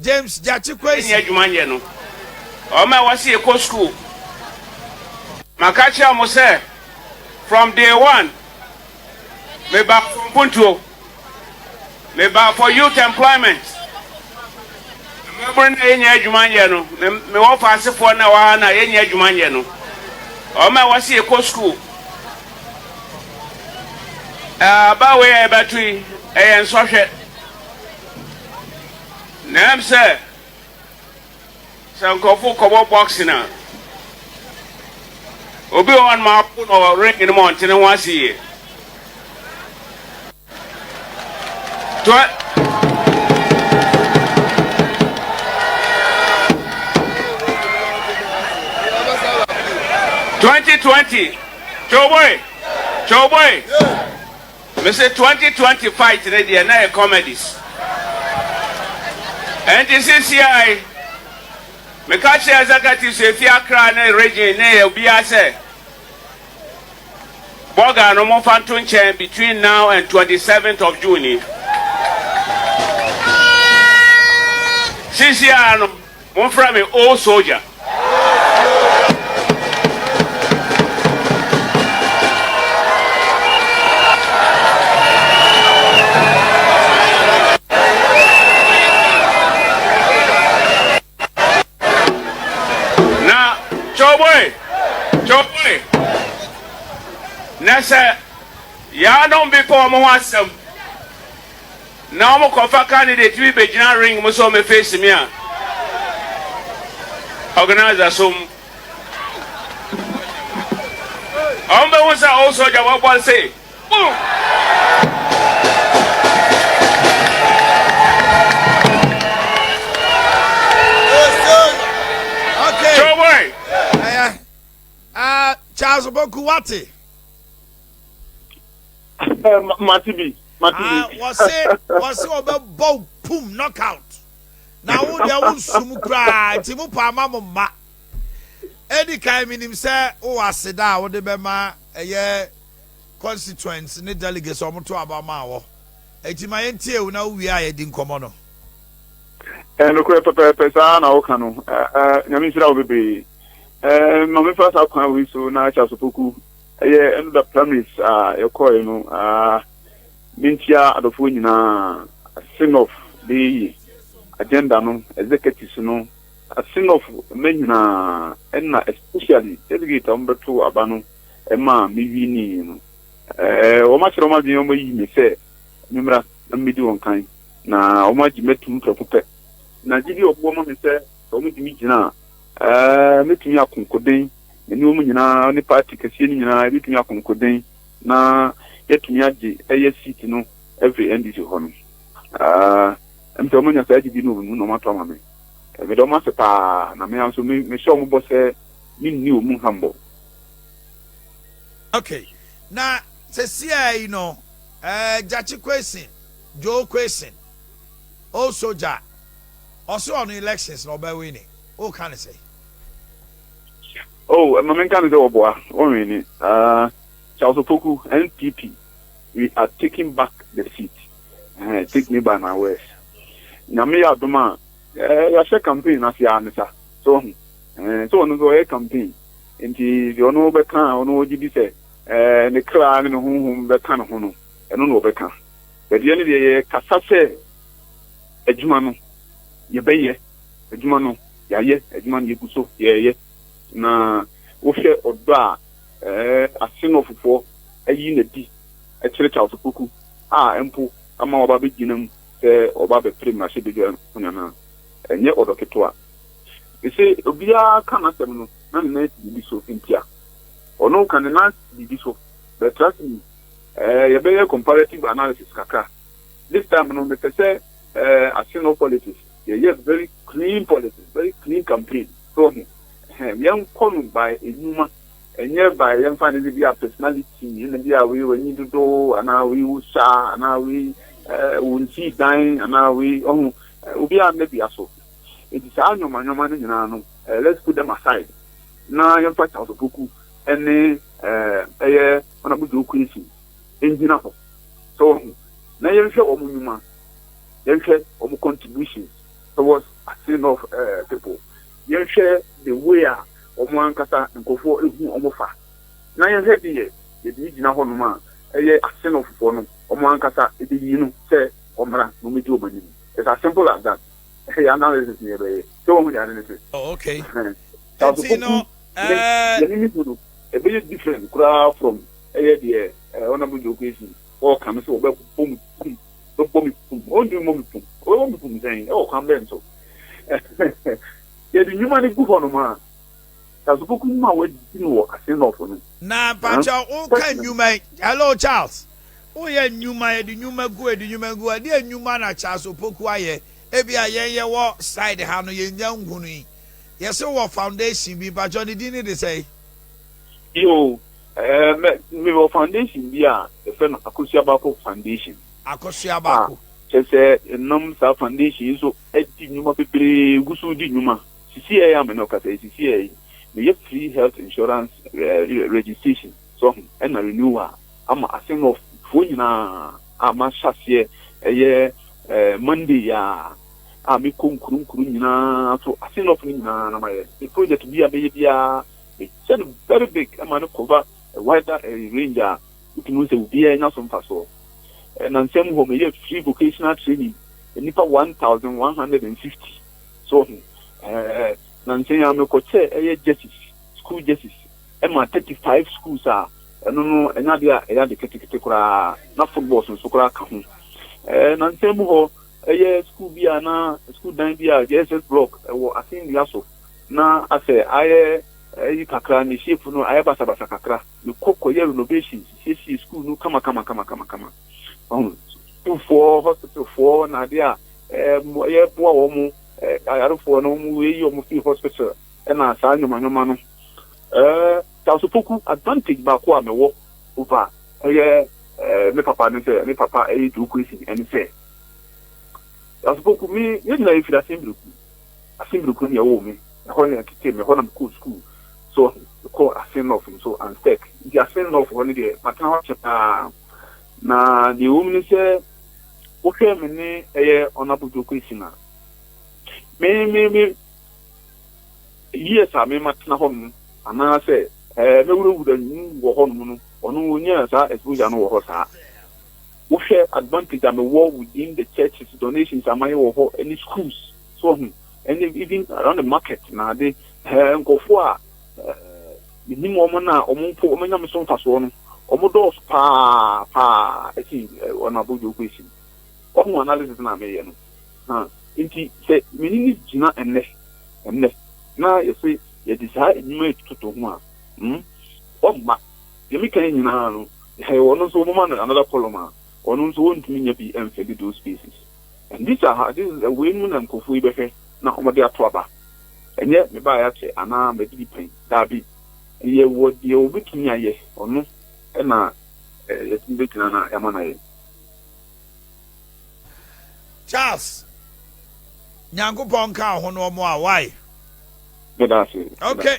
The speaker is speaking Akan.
James Gyakye Kwesi. Yɛnni adwuma nyɛ no. Wɔn a wɔse yɛkɔ sukuu, maka kyerɛ wɔn sɛ from day one meba for mpuntuo, meba for youth employment. Mmabunu na yɛnni adwuma nyɛ no. Mewɔ faasefoɔ na wɔ ha na yɛnni adwuma nyɛ no. Wɔn a wɔse yɛkɔ sukuu, aba wei a yɛbɛto yi ɛyɛ nsɔhwɛ. Na ɛm sɛ sɛ nkurɔfo kɔbɔ boxing a, obi wɔ hɔnom apo no wɔ ring no mu ɔnte ne ho ase yie. Twenty twenty, Joe boy, Joe boy. Me se twenty twenty fight no deɛ na yɛ comedies ɛnti sisiai me ka kyerɛ executives efi Accra ne region ne yɛ obiara sɛ bɔga no mo fa nto nkyɛn between now and twenty seventh of June ni sisiai no Monfrɛ me Old Soldier. Na Cowboy, Cowboy, na sɛ yɛanom bepɔw mo ho asɛm. na wɔn kɔ fa candidate bi bɛ gyina ring mu sɛ wɔn bɛ face me a organizer som wɔn bɛ hu sɛ old soldier wɔ bɔ nse boom showboy ɛyɛ ah charles boku wate. Eh, ma- mate bi, mate bi. Ah, wɔse wɔse ɔbɛbɔ wo pum knockout na wo deɛ wo nsum koraa nti mo paa ma mo mma ɛdi kan menim sɛ wowɔ aseda a wode bɛma ɛyɛ constituents ne delegates a wɔto aba ma wɔ ɛti ma yɛntie wo na wowie a yɛdi nkɔmmɔ no eh, nokorɛ pɛpɛɛpɛ saa na woka no eh, eh, nyame nhyira wo bebree eh, ma mefa saa kwan wei so na akyɛ asopoku Ɛyɛ ɛno da primaries a yɛkɔɔɛ no aa mentia adɔfoɔ nyinaa Asenoff bɛyɛ yie agenda no executives no Asenoff mma nyinaa ɛna especially delegate a wɔn bɛtoo aba no ɛma me winnie no ɛɛ wɔn akyerɛ wɔn adwene wɔn ayi me sɛ memmra na medi wɔn kan na wɔn agye mɛtum prɛko pɛ na gyidi ɔboɔ ma me sɛ sɛ wɔn de me gyina a ɛɛ mɛtumi akonkoden Aniwa mu nyinaa ne party kɛseɛ no nyinaa yɛbɛtumi akonkoden na yɛatumi agye ɛyɛ seat no afiri NDC hɔ no. Ah, ɛm sɛ wɔn anya saa gyidie no wɔ me mu na wɔn ato ama me. Medɔ wɔn ase paa na me ara nso me me hyɛ wɔn bɔ sɛ me nni wɔn mu hambɔ. Ok, na sɛsiaa yi no eh, Gyakye Kwesin, Joe Kwesin, Old Soldier, ɔse ɔno elections no ɔbɛ wini, woka ne sɛn? Oh, Mama Nka Mizo Oboa, Onwini, uh, Charles Opoku, NPP, we are taking back the seat. Uh, take me by my words. Nyame ya doma, eh, ya share campaign na siya nisa. So, eh, so no so campaign. Nti, di ono be kan, ono oji di se, eh, ne kra, ne hum hum be kan hono. Eno no be kan. But yene di ye kasa se, ejumano, ye be ye, ejumano. Yɛayɛ adwuma na yɛgu so yɛreyɛ, na wohwɛ ɔdɔ a asen no ɔfofoɔ ayi no adi kyerɛ Charles Opoku a mpo ama waba abɛgyina mu sɛ ɔba abɛpere mmarahyɛbadwa mu no anaa? Ɛnyɛ ɔdɔ ketewa. Mese obiara ka n'asɛm no na ne nan si biribi so ntia. Ɔno ka ne nan si biribi so, but trust me, eh, yɛbɛyɛ comparative analysis kakra. This time no mepɛ sɛ eh, asen no politics, yɛyɛ very Clean policies, very clean campaign, so wahu ɛhɛn, yɛnkɔ no by nnwuma, ɛnyɛ by yɛmfa no sɛ bi a personality, ɛna bi a wei w'ani dodo, anaa wei wo sua, anaa wei ɛɛ wo nsi dan, anaa wei ɔho, obi a mmɛ dua so, nti saa nneɛma nneɛma no nyinaa no ɛɛ let's put them aside, na yɛmfa Charles Opoku ɛne ɛɛ ɛyɛ Honourable Joe Quincy ɛngyina hɔ, so wahu, na yɛnhwɛ wɔn nnwuma, yɛnhwɛ wɔn contributions. towards ase north people yɛnhwɛ the way a wɔn ankasa nkurɔfoɔ hu wɔn fa na yɛhwɛ deɛ yɛde yi gyina hɔ nom a ɛyɛ ase north foɔ no wɔn ankasa de yi no sɛ wɔmmra na wɔmɛdi wɔn anim it's as simple as that ɛhɛ yɛ analysis na yɛbɛyɛ sɛ wɔn ho deɛ ade ne se okay ɛti no yɛne ne hu no ɛbɛyɛ different koraa from ɛyɛ deɛ honorable Joe Kwesi wɔka no sɛ wɔbɛbɔ mu Bɛbɔ me pum. Ɔntumi mmɔ me pum. Ɔbɛbɔ me pum sɛn? Ɛwɔ kwan bɛn so? Yɛde nnwuma no gu hɔnom a, Tasubɔku mu a wɔadi no wɔ Assinnibourg no. Na mpakyɛw woka nnwuma yi? Hello Charles. Woyɛ nnwuma, yɛde nnwuma gu hɔ, yɛde nnwuma gu hɔ. Ɛdeɛn nnwuma na Charles Opoku ayɛ? Ebia yɛn yɛwɔ side ha no, yɛnnya nhunui. Yɛse wɔ foundation bi, mpakyɛw ne din no de sɛn? Yoo. Ɛɛ mɛ me wɔ foundation bi a yɛfrɛ no Akosua-Bako foundation. Akosua-Bako. A kyɛ sɛ ɛnam saa foundation yi so ɛdi nnwuma bebree gu so di nnwuma. Sisi ɛyɛ a me ne wo kasa yi sisi ɛyɛ yi meyɛ free health insurance ɛɛ registration so ho ɛna renewal ama Asenɔf foɔ nyinaa a mahyɛ aseɛ ɛyɛ ɛɛ Monday yi ara a mekɔ nkuro nkuro nyinaa so Asenɔf no nyinaa na mayɛ. Me project bi a mɛyɛ biara. Mehyɛ no very big ma no cover a wider range a wotumi hu sɛ obiara nya so mfasoɔ. Nnansa mu hɔ meyɛ free vocational training nnipa one thousand one hundred and fifty so wɔ he? Nnansa yi ara mekɔ kyɛɛ ɛyɛ jerseys, school jerseys ma thirty five schools a ɛno no ɛnyɛ adeɛ a ɛyɛ ade ketekete koraa na footballs nso koraa ka ho. Nnansa mu hɔ ɛyɛ school bi a na school dan bi a JSS block ɛwɔ Asɛnnua so. na asɛ ayɛ ayi kakra, ne shape no ayɛ basabasa kakra, mekɔ kɔyɛ renovation, siesie school no kama kama kama kama kama. Ɔho, sukuufoɔ, hospitalfoɔ, na adeɛ a ɛɛ yɛboa wɔn mo ayarefoɔ no, wɔn yɛyi wɔn firi hospital, ɛna saa nneɛma nneɛma no. Ɛɛ Tasopoku advantage baako a mewɔ over ɛyɛ ɛɛ me papa ne sɛ, me papa ɛyɛ Joe Kwesi ɛne sɛ, Tasopoku me yɛn nyinaa yɛfiri Asembreku. Asin bere koro bi a wɔwoo me, ɛhɔ na ɛtetee me, ɛhɔ na mekɔɔ sukuu, so mekɔɔ Asin North nso, Anstec, nti Asin North hɔ no deɛ matena hɔ akyɛ pa ara. Na deɛ ɛwom ne sɛ, wohwɛ me ne ɛyɛ Honourable Joe Quayson a, me, me, me years a me matena hɔ nom, anaasɛ ɛɛ, mɛwurawura mu wɔ hɔ nom no, ɔno ɔnyaa saa exposure no wɔ hɔ saa. Wohwɛ advantage a me wɔ within the churches donations a mayɛ wɔ hɔ ɛne schools so wahu ɛne even around the market na ade ɛɛ nkorɔfoɔ a me nim wɔn na wɔn mpo wɔn anya me so mfasoɔ no wɔn dɔɔso paa paa ɛsi wɔn abodwo kɔ ɛsi wahu analysis na meyɛ no ha nti sɛ me ne ne gyina ɛnɛ ɛnɛ na yɛse yɛde saa enyima ɛtututu ho a hmm wɔn mma Deɛ meka yi nyinaa no, hɛ, ɔno nso wɔmma no another column a, ɔno nso wɔntumi nya bi mfili those spaces. And these are how, this is, wei mu na nkorɔfoɔ yi bɛhwɛ na wɔde ato aba. Ɛnyɛ mebaeɛ akyɛ anaa madidi pɛn, daabi. Yɛwɔ deɛ wɔbɛtumi ayɛ, ɔno na yɛtumi bɛgyina na yɛama no ayɛ. Charles, Nyankopɔn nka wo ho ne wɔn a, wai? Meda ase, meda. Okay.